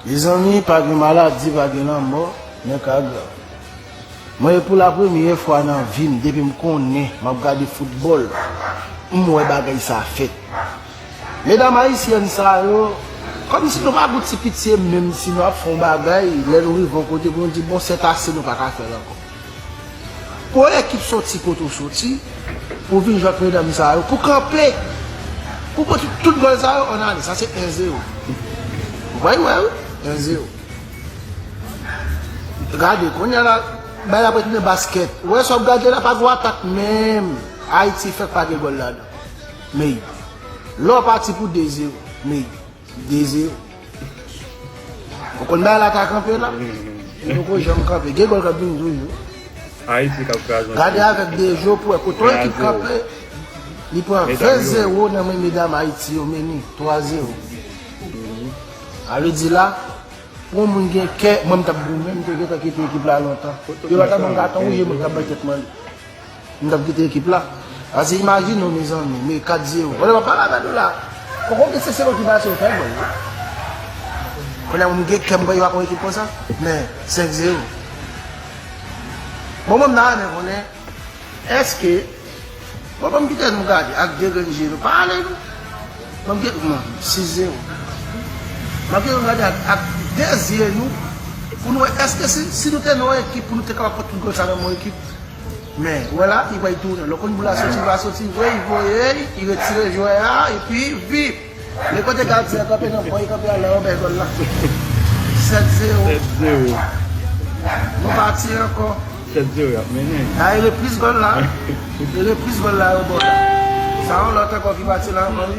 Mezanmi pa gen maladi pa gen lanmò nan ka Gaby Mwen e pou la premye fwa nan vim depim konnen map gade foutbòl m wè bagay sa fèt Medam ayisyèn sa yo kòmsi nou pa gon ti pitye menmsi nou ap fè yon bagay lè nou rive yon kote pou nou di bon sètase nou paka fèl ankò. Pran ekip soti kote ou soti pou w vin jwe ak medam sa yo, pou w kanpe, pou w pran tout gòl sa yo an ale. Sa se 1 zero. Ou bay wè wi, 1 zero. Gade, kounye a la, bagay la pral tounen baskèt. Ou wè sa w ap gade la pa gwo atak menm. Ayiti fèk pa gen gòl ladan. Meyy. Lè w pati pou 2 zero. Meyy. 2 zero. Ou konn bay la ta kanpe la. Li poko janm kanpe. Gen gòl kap vini toujou. Ayiti kap kraze. Gade avèk Dejo pou wè kote yon ekip kanpe. Li pran 20 zero nan men medam Ayiti yo meni 3 zero. A vle di la pou yon moun gen kè mwen m tap goumen m te gentan kite ekip la lontan. Yo pa tap banm katon wouje mwen tap bay tèt male. M tap kite ekip la. Pase imajine w mezanmi me 4 zero. Bon e wap pale avè nou la. Poko gen se sel okipasyon ou fè bro wi. Kounye a m gen kè m kwè yo ak yon ekip konsa. Men 5 zero. Bon mwen m ta renmen konnen eske Bon banm kite nou gade ak 2 grenn je nou pa ale nou. Banm kite nou gade 6 zero. Banm kite nou gade ak 2 zye nou pou nou wè eske si nou te nan yon ekip pou nou te kapab pran tout gòl sa nan yon ekip. Men, wè la, li bay tounen. Lò konn boul la soti, li va soti vre, li voye l, li retire jwè a, epi, vip! Men kote gadyen an kanpe nan bò, li kanpe anlè anbè gòl la. 7 zewo. 7 zewo. Nou pati ankò. 7 zewo y ap mennen. A e repriz gòl la. E repriz gòl la yo bò la. Sa yon lòt ankò ki pati la ankò wi.